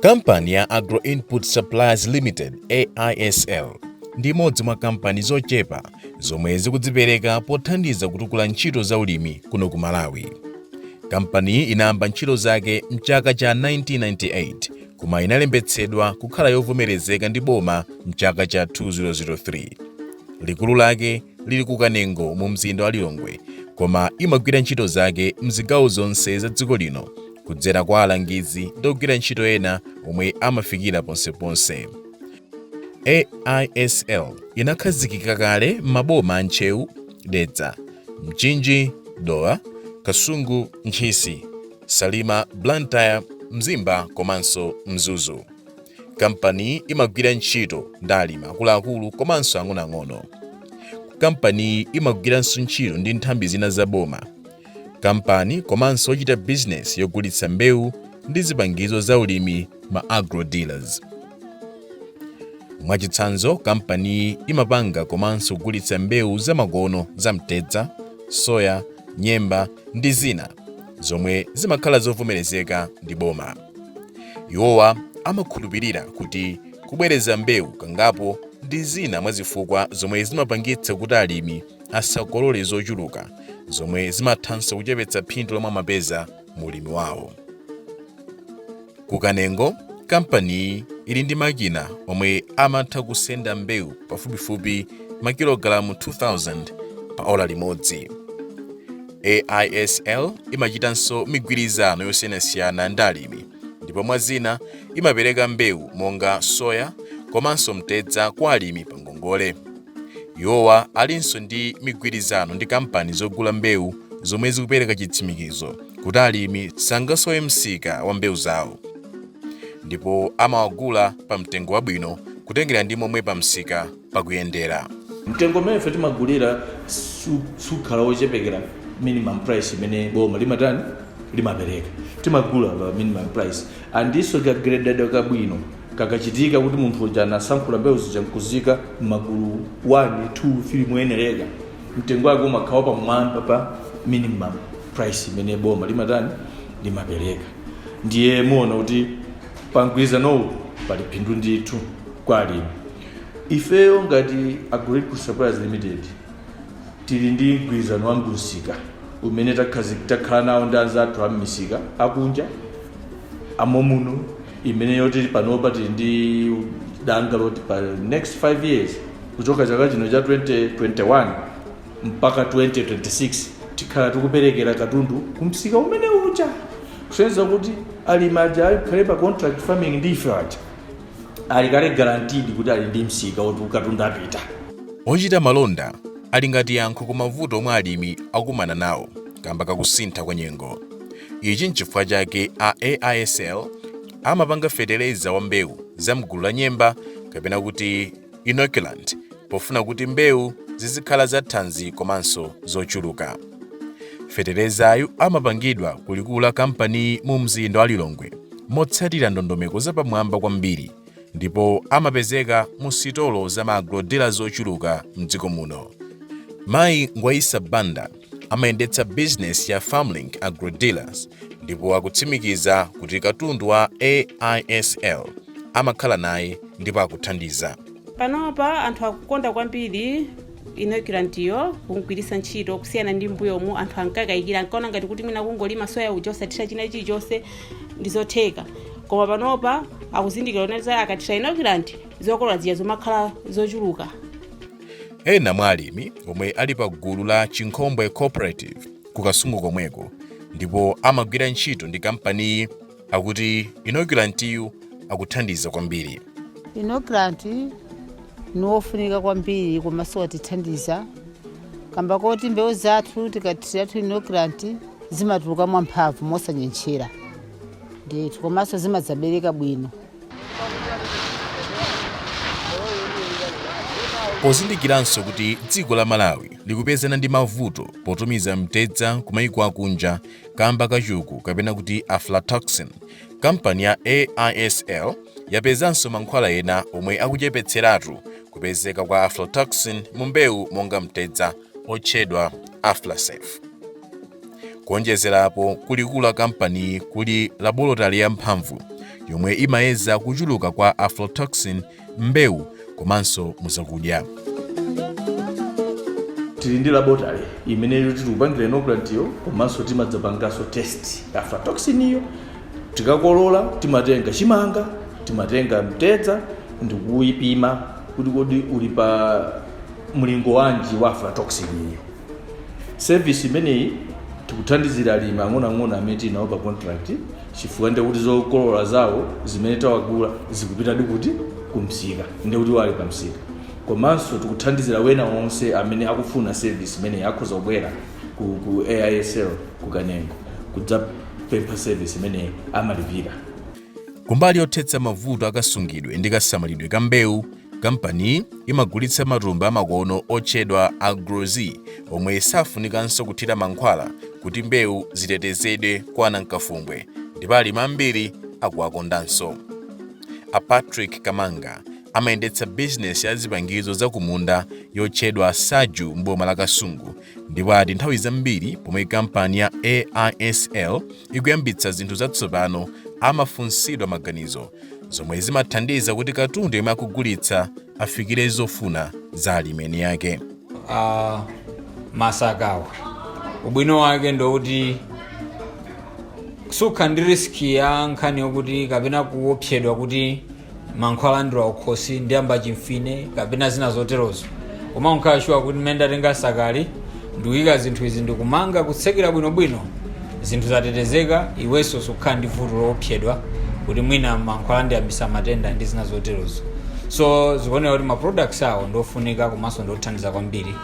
kampani ya Agro-Input Suppliers limited aisl ndi imodzi mwa kampani zochepa zomwe zikudzipereka pothandiza kutukula ntchito za ulimi kuno ku malawi Kampaniyi inayamba ntchito zake m'chaka cha 1998 koma inalembetsedwa kukhala yovomerezeka ndi boma m'chaka cha 2003. Likulu lake lili ku Kanengo mu mzinda wa Lilongwe koma imagwira ntchito zake m'zigawo zonse za dziko lino kudzera kwa alangizi ndi ogwira ntchito ena omwe amafikira ponseponse. AISL inakhazikika kale m'maboma a Ntcheu, Dedza, Mchinji, Dowa, Kasungu, Ntchisi, Salima, Blantyre, Mzimba komanso Mzuzu. Kampaniyi imagwira ntchito ndi alimi akuluakulu komanso ang'onoang'ono. Kampaniyi imagwiranso ntchito ndi nthambi zina za boma kampani komanso ochita bizinesi yogulitsa mbewu ndi zipangizo za ulimi ma agro dealers mwachitsanzo kampaniyi imapanga komanso kugulitsa mbewu zamakono za mtedza soya nyemba ndi zina zomwe zimakhala zovomerezeka ndi boma iwowa amakhulupirira kuti kubwereza mbewu kangapo ndi zina mwa zifukwa zomwe zimapangitsa kuti alimi asakolole zochuluka zomwe zimathanso kuchepetsa phindu lomwe amapeza mu ulimi wawo ku kanengo kampaniyi ili ndi makina omwe amatha kusenda mbewu pafupifupi makilogalamu 2000 pa ola limodzi aisl imachitanso migwirizano yosiyanasiyana ndi alimi ndipo mwa zina imapereka mbewu monga soya komanso mtedza kwa alimi pa ngongole Iwowa alinso ndi migwirizano ndi kampani zogula mbewu zomwe zikupereka chitsimikizo kuti alimi sangasowe msika wa mbewu zawo ndipo amawagula pa mtengo wabwino kutengera ndi momwe pa msika pakuyendera. Mtengo umene ife timagulira sukhala wochepekera minimum price imene boma limatani limapereka timagula pa minimum price andinso kagrededwa kabwino Kakachitika kuti munthu uja anasankhula mbewu zija nkuziika m'magulu 1, 2, 3 moyenereka, mtengo wake umakhala wapamwamba pa minimum price imene boma limatani limapereka. Ndiye muona kuti pa mgwirizanowu pali phindu ndithu kwa alimi. Ifeyo ngati Agro-Input Suppliers Limited tili ndi mgwirizano wa msika umene takhala nawo ndi anzathu a m'misika akunja amomuno imene yoti panopa tili ndi danga loti pa next 5 years kuchoka chaka chino cha 2021 mpaka 2026 tikhala tikuperekera katundu kumsika umene uja kusonyeza kuti alimi aja akakhale pa contract farming ndi ife aja ali kale guaranteed kuti ali ndi msika woti katundu apita ochita malonda ali ngati yankho ku mavuto omwe alimi akumana nawo kamba kakusintha kwa nyengo Ichi nchifukwa chake a AISL amapanga fetereza wa mbewu za mgulu la nyemba kapena kuti inoculant pofuna kuti mbewu zizikhala za thanzi komanso zochuluka. Feterezayu amapangidwa ku likulu la kampaniyi mu mzinda wa Lilongwe motsatira ndondomeko zapamwamba kwambiri ndipo amapezeka mu sitolo za ma agrodealers zochuluka mdziko muno. Mayi Ngwaisa Banda amayendetsa bizinesi ya Farmlink Agro Dealers ndipo akutsimikiza kuti katundu wa AISL amakhala naye ndipo akuthandiza. Panopa anthu akukonda kwambiri inoculantiyo kumgwiritsa ntchito kusiyana ndi mbuyomu anthu ankakayikira ankaona ngati kuti mwina kungolima soya uja osathira china chilichonse ndi zotheka koma panopa akuzindikira kuti akathira inoculant zokolola zija zumakhala zochuluka ena mwa alimi omwe ali pa gulu la chinkhombwe cooperative ku kasungu komweko ndipo amagwira ntchito ndi kampaniyi akuti inokulantiyu akuthandiza kwambiri inoculant ni wofunika kwambiri komanso watithandiza kamba koti mbewu zathu tikathiratu inoculant zimatuluka mwamphamvu mosanyentchera ndithu komanso zimadzabereka bwino Pozindikiranso kuti dziko la Malawi likupezana ndi mavuto potumiza mtedza kumayiko akunja kamba ka chuku kapena kuti aflatoxin, kampani ya AISL yapezanso mankhwala ena omwe akuchepetseratu kupezeka kwa aflatoxin mu mbewu monga mtedza, otchedwa Aflasafe. kuonjezera apo kulikulu la kampaniyi kuli labolotale yamphamvu yomwe imayeza kuchuluka kwa aflatoxin m'mbewu komanso muzakudya tili ndi laboratory imene tikupangira inoculant iyo komanso timadzapanganso test aflatoxin iyo tikakolola timatenga chimanga timatenga mtedza ndikuyipima kuti kodi uli pa mlingo wanji wa aflatoxin iyo service imeneyi tikuthandizira alimi ang'onoang'ono amene tili nawo pa contract chifukwa ndiye kuti zokolola zawo zimene tawagula zikupitadi kuti kumsika ndiye kuti wali pamsika komanso tikuthandizira wena onse amene akufuna service imeneyi akhoza kubwera ku, ku aisl ku kanengo kudzapempha service imeneyi amalipira kumbali yothetsa mavuto akasungidwe ndi kasamalidwe ka mbewu kampaniyi imagulitsa matumba amakono otchedwa Agro-Z omwe safunikanso kuthira mankhwala kuti mbewu zitetezedwe kwa anankafumbwe ndipo alimi ambiri akuwakondanso a patrick kamanga amayendetsa bizinesi ya zipangizo zakumunda yotchedwa saju m'boma la kasungu ndipo ati nthawi zambiri pomwe kampani ya aisl ikuyambitsa zinthu zatsopano amafunsidwa maganizo zomwe zimathandiza kuti katundu yemwe akugulitsa afikire zofuna za alimi eni ake masakawa ubwino wake ndowuti sukhala ndi riski ya nkhani yokuti kapena kuopsedwa kuti mankhwala andilowa kukhosi andiyamba chimfine kapena zina zoterozo koma umakhala shuwa kuti mmene ndatenga sakali ndikuyika zinthu izi ndikumanga kutsekera bwinobwino zinthu zatetezeka iwenso sukhala ndi vuto loopsedwa kuti mwina mankhwala andiyambitsa matenda ndi zina zoterozo so zikuoneka kuti ma products awo ndiofunika komanso ndiothandiza kwambiri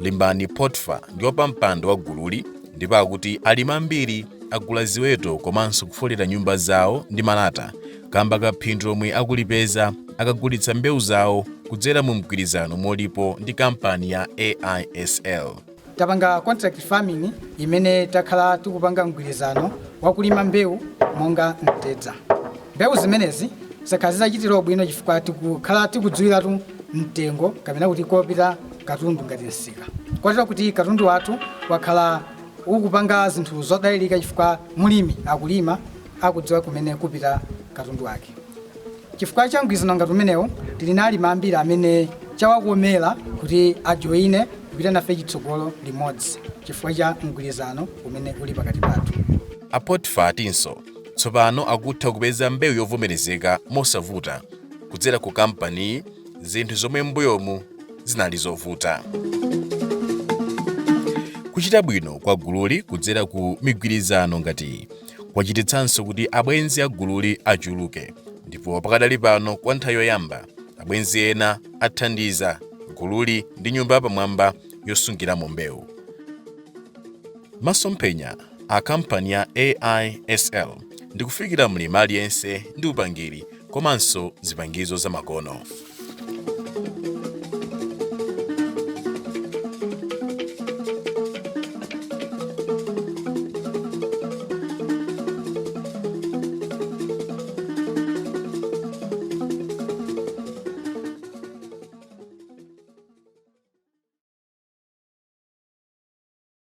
limbani potfa ndi wapampando wa gululi ndipo akuti alimi ambiri agula ziweto komanso kufolera nyumba zawo ndi malata kamba ka phindu lomwe akulipeza akagulitsa mbewu zawo kudzera mu mgwirizano omwe ulipo ndi kampani ya aisl tapanga contract farming imene takhala tikupanga mgwirizano wakulima mbewu monga mtedza mbewu zimenezi zakhala zitatichitira ubwino chifukwa tikukhala tikudziwiratu mtengo kapena kuti kopita katundu ngati msika kotero kuti katundu wathu wakhala ukupanga zinthu zodalirika chifukwa mlimi akulima akudziwa kumene kupita katundu wake chifukwa cha mgwirizano ngati umenewu tili ndi alimi ambiri amene chawakomera kuti ajoine kupita nafe chitsogolo limodzi chifukwa cha mgwirizano umene uli pakati pathu A Potifa atinso tsopano akutha kupeza mbewu yovomerezeka mosavuta kudzera ku kampaniyi zinthu zomwe m'mbuyomu zinali zovuta kuchita bwino kwa gululi kudzera ku migwirizano ngati iyi kwachititsanso kuti abwenzi a gululi achuluke ndipo pakadali pano kwa nthawi yoyamba abwenzi ena athandiza gululi ndi nyumba yapamwamba yosungiramo mbewu masomphenya a kampani ya AISL ndi kufikira mlimi aliyense ndi upangiri komanso zipangizo zamakono.